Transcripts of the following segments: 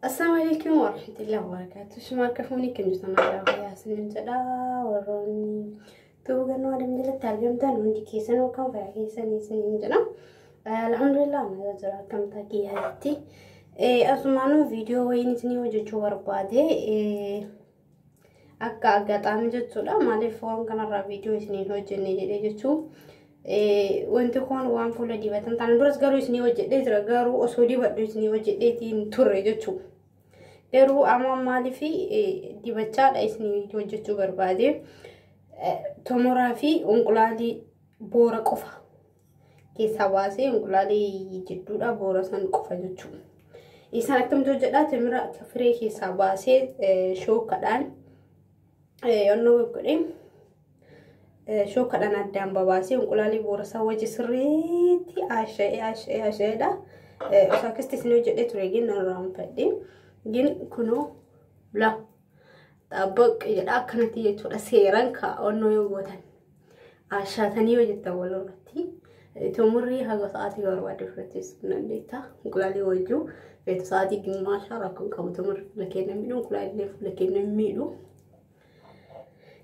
Assalamu alaikum warahmatullahi wabarakatuh. Shuma akka fuunii kan jirtan aadaa fayyaa isiniin jedha. Warroonni tuuba gannoo adeem jalatti argamtan hundi keessan yookaan fayyaa keessan isiniin jedha. Alhamdulillah nagaa jira akkamtaa kiyyaatti. Asumaanuu viidiyoo wayiin isinii hojjechuu barbaade. akka aggaxaamii jechuudha maaliif waan kanarraa viidiyoo isiniin hojjenne jedhee jechuun wanti kun waan fuula dibatan taana duras garuu isinii hojjedhee jira garuu osoo dibadhu isinii hojjedheetiin turre jechuu garuu amma maaliif dibachaadha isinii hojjechuu barbaade tomoraa fi unqulaalii boora qofa keessaa baasee inqulaalii jidduudhaa boora san qofa jechuudha. Isaan akkamtu hojjedhaa timira akka firee keessaa baasee shookadhaan yonnoo godhee shookadhaan addaan babaasee inqulaalii boora isaa wajji sirriitti haasha'ee haasha'ee haasha'eedha. Osoo akkasitti isin hojjedhee ture gin narraa hin fadhiin gin kunoo laa. Xaabaq jedha akkanatti jechuudha seeran kaa'annoo yoo gootan ashaatanii yoo jettan walirratti xumurrii haga sa'aatii barbaadde fudhachiisuu dandeetta. Inqulaalii wajjuu feetu sa'aatii gimmaashaa rakkoon qabu xumurri fuula keenya miidhu inqulaalillee fuula keenya miidhu.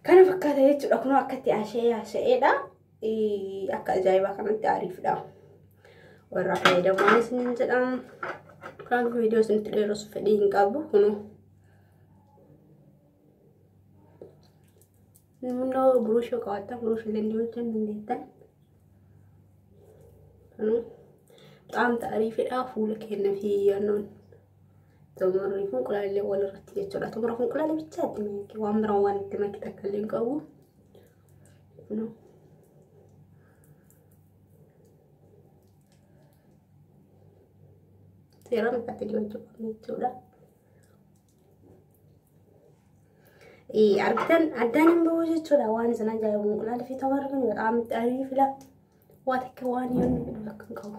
Kana fakkaata jechuudha kun akkatti asha'ee asha'eedha. Akka ajaa'ibaa kanatti aariifdha. Warra fayyadamuunis ni jedhamu. Kan viidiyoo isinitti dheeressu fedhii hin qabu kunuu. Namni buruushoo qabaatan buruushiilee dibachuu hin dandeettan. Qaamta ariifidhaa fuula keenya fi yaannoon xumurri funqulaallee wal irratti jechuudha. Xumura funqulaalee bichaa itti makke waan biraa waan itti makke takka illee hin qabu. Seeraan akkatti dibachuu qabna jechuudha. argitan addaan hin bahu jechuudha waan isin ajaa'ibu mucaan fi tamar kun bataam itti ariif fila waa takka waan yoon fidhu akka hin qabu.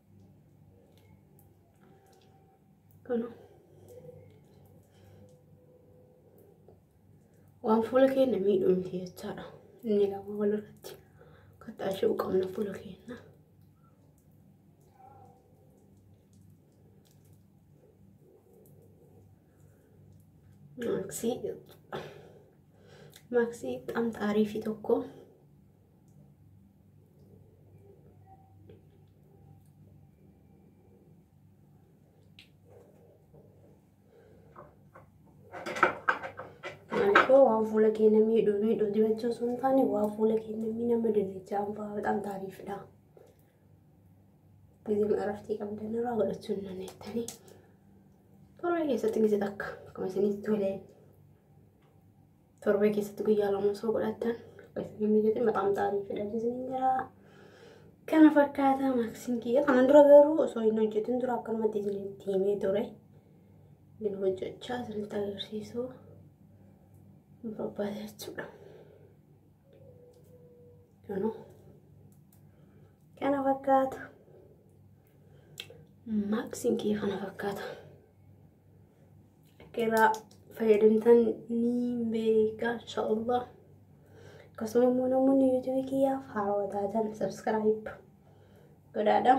Kana. Waan fuula keenya miidhu miti jechaadha. Inni lama walirratti kattaashuu qabna fuula keenya. Maaksii maaksii xamxaarii fi tokko. Maaliifoo waan fuula keenya miidhu miidhu dibachuu osoo hin taane waan fuula keenya miidhama dibachaa hambaa bexaam taariifdha. Gizeen irratti qabdan irraa godhachuu hin dandeettanii. Torbee keessatti gizee takka akkuma isinitti tolee. torbee keessatti guyyaa lama osoo godhattan akkasii inni jedhe maxaan xaarii filachiisin hin jira. Kana fakkaata maaksiin kiyya kanan dura garuu osoo hin hojjetin dura akkanumatti isinitti himee ture. Inni hojjechaa isinitti agarsiisuu hin barbaade jechuudha. Kanoo kana fakkaata. Maaksiin kiyya kana fakkaata. Qeeraa fayyadamtan ni beeka inshaallah. Akkasuma immoo namoonni yuutuubii kiyyaaf haarawaa taatan sabskiraayib godhaadha.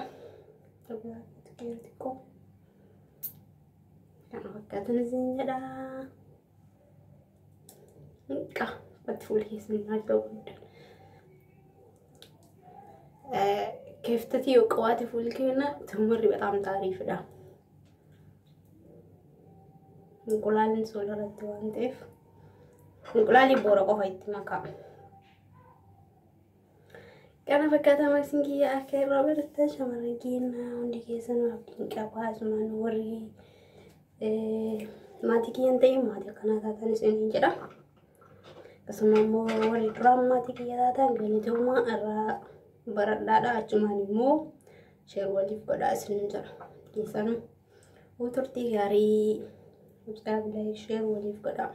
Xiqqoo kana fakkaatan isin jedha. Qa fatti fuula keessan maal ta'uu qabdan. Keeftati yoo qabaate fuulli keenya tumurri bataam taariifidha. Inqulaaliin soola irratti waan ta'eef inqulaalii boora qofa itti makaa. Kana fakkaata maaksiin kiyya akka irraa barattan shamarran keenya hundi keessan abdiin qabaa asumaan warri maatii kiyya hin ta'in maatii akkanaa taatan isiniin jedha. Akkasuma immoo warri duraan maatii kiyya taatan galatooma irraa baradhaadha achumaan immoo Sheer waliif godhaa isinin jedha. Dhiisana. Huu turtii gaarii. Mucaa bilaayii sheer waliif godhaa.